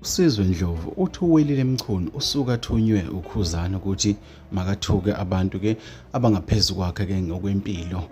usizwe ndlovu uthi uwelile mchunu usuke athunywe ukhuzana ukuthi makathuke abantu ke abangaphezu kwakhe ke ngokwempilo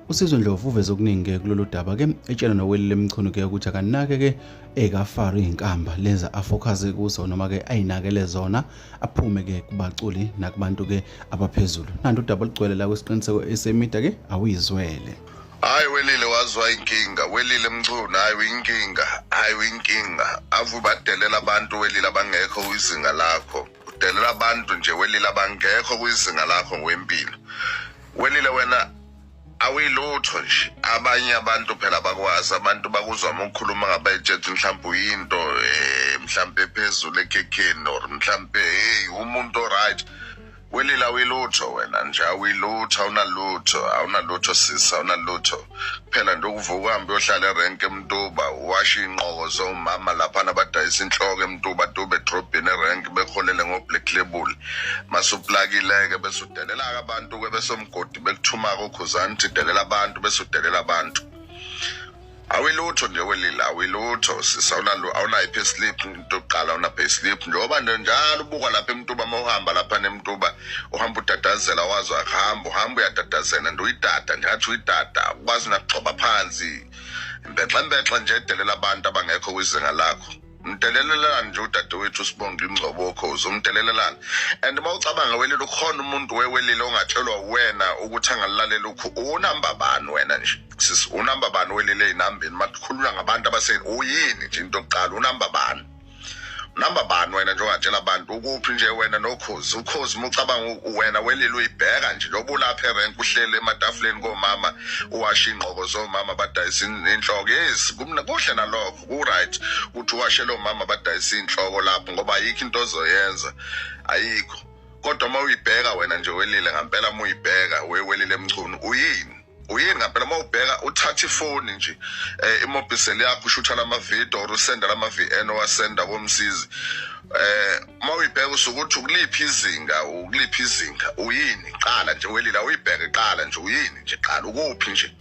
usizwe ndlovu uveze okuningi ke kulolu daba ke etshela nowelile mchunu ke ukuthi akanake ke ekafari inkamba lenza afocuze kuso noma ke ayinakele zona aphume ke kubaculi nakubantu ke abaphezulu nanti udaba olugcwele la kwesiqiniseko esemida ke awuyizwele Hayi welile wazwa inkinga welile mchunu hayi uyinkinga hayi uyinkinga ave ubadelela abantu welile abangekho kwizinga lakho udelela abantu nje welile abangekho kwizinga lakho ngwempilo welile wena awuyilutho nje abanye abantu phela bakwazi abantu bakuzwa uma ukhuluma ngabayitsheti mhlawumbe uyinto um mhlawumbe ephezulu ekhekheni or mhlawumbe heyi umuntu oright Wilila awuyilutho wena nje awuyilutho awunalutho awunalutho sisi awunalutho kuphela nje ukuvuka uhambe uyohlala erenke emtuba uwashe iy'nqoko zomama laphana abadayisa inhloko emtuba tube edrobhini erenke beholele ngo-black label masuplakileke bese udelela-ke abantu-ke besomgodi bekuthuma-ke ukhuzani uthi delela abantu bese udelela abantu awilutho nje welila awilutho sisa awunalo awunayo pay slip into yokuqala awuna pay slip njengoba nje njalo ubukwa lapha emtuba uma uhamba lapha nemtuba uhamba udadazela wazi akuhamba uhamba uyadadazela nje uyidada nje ngathi uyidada ukwazi nakuxoba phansi mbexembexe nje edelela abantu abangekho kwizinga lakho mdelelelani nje udadewethu usibonga ingcobo okhozi umdelelelani and uma ucabanga welile ukhona umuntu wewelile ongatshelwa wena ukuthi angalilalela ukhu unamba bani wena nje sisi unamba bani welile ey'nambeni makhulula ngabantu abaseni uyini nje into yokuqala unamba bani namba bani wena nje ongatshela abantu ukuphi nje wena nokhozi ukhozi uma ucabanga wena welile uyibheka nje loba ulapha erenk uhlele ematafuleni komama uwasha ingqoko zomama badayisa inhloko yes kuhle nalokho kuright ukuthi uwashe lo mama badayisa iy'nhloko lapho ngoba ayikho into ozoyenza ayikho kodwa uma uyibheka wena nje welile ngampela uma uyibheka wewelile emchunu uyini uyini ngampela uma ubheka uthatha ifoni nje um eh, imobhiseli yakho ushutha lamavidiyo or usenda lama-v n owasenda komsizi eh uma uyibheka usukuthi ukuliphi izinga ukuliphi izinga uyini qala nje welila uyibheke qala nje uyini nje qala ukuphi nje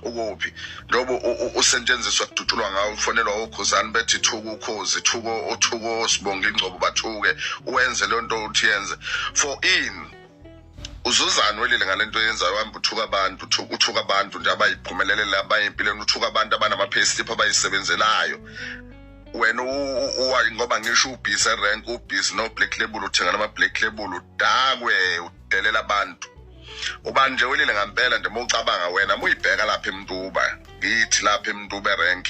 ukuphi lobo usentshenziswa kudutshulwa ngawo ufonelwa okhuzani bethi thuka ukhozi thuko othuko sibonga ingcobo bathuke uwenze leyo nto uthi yenze for in uzuzani welile ngale nto yenzayo hamba uthuka abantu uthuka abantu nje abayiphumelelele abanye empilweni uthuka abantu abanama-payslip abayisebenzelayo wena uwayi ngoba ngisho ubhizi erank ubhizi no-black label uthenga nama-black label udakwe udelela abantu ubani nje welile ngampela nje mawucabanga wena muyibheka lapha emntuba ngithi lapha emntuba erank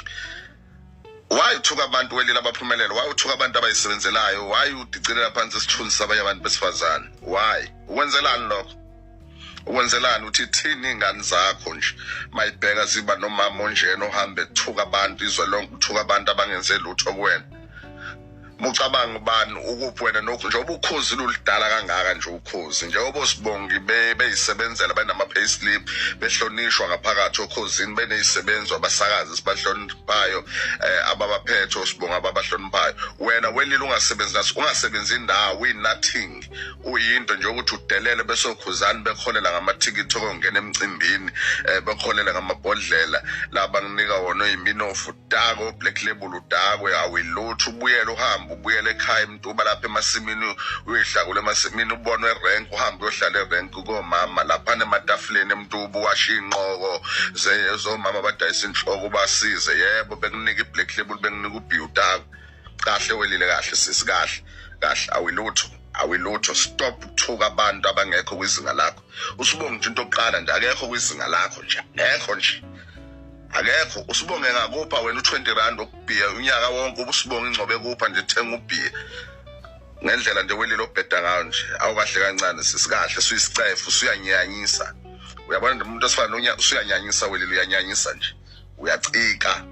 why uthuka abantu welile abaphumelele why uthuka abantu abayisebenzelayo why udicilela phansi isithunzi sabanye abantu besifazane why ukwenzelani lokho ukwenzelani uthi thini ingane zakho nje mayibheka ziba nomama onjena ohambe ethuka abantu izwe lonke uthuka abantu abangenze lutho kuwena Mucabanga ubani ukuphi wena nokho njengoba ukhozi lulidala kangaka nje ukhozi njengoba sibongi beyisebenzela benama payslip behlonishwa ngaphakathi okhozini benezisebenzi abasakazi sibahloniphayo eh, ababaphethe osibonga ababahloniphayo wena welile ungasebenzi naso ungasebenzi indawo we nothing uyinto nje ukuthi udelele besokhuzani bekholela ngamathikithi okungena emcimbini eh, bekholela ngamabhodlela laba nginika wona oyiminofu udakwe oblack label udakwe awilutho ubuyele uhambe ubuyele ekhaya imtuba lapha emasimini uyihlakula emasimini ubonwe erenk uhambe uyohlala erenk komama laphana ematafuleni emtuba uwashe iy'nqoko ze- zomama abadayisa inhloko ubasize yebo bekunika iblack label bekunika ubhi udakwe kahle welile kahle sisi kahle kahle awilutho awilutho stop ukuthuka abantu abangekho kwizinga lakho usibonga nje into yokuqala nje akekho kwizinga lakho nje akekho nje akekho usibonge ngakupha wena u-20 rand ukubhiya unyaka wonke ubusibonge ingcobe kupha nje thenga ubhiya ngendlela nje welile obheda ngayo nje awukahle kancane sisikahle suyisicefu suyanyanyisa uyabona nje umuntu osifana nonya usuyanyanyisa welile uyanyanyisa nje uyacika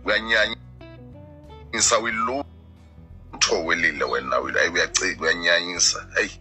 uyanyanyisa wilutho welile wena uyacika uyanyanyisa heyi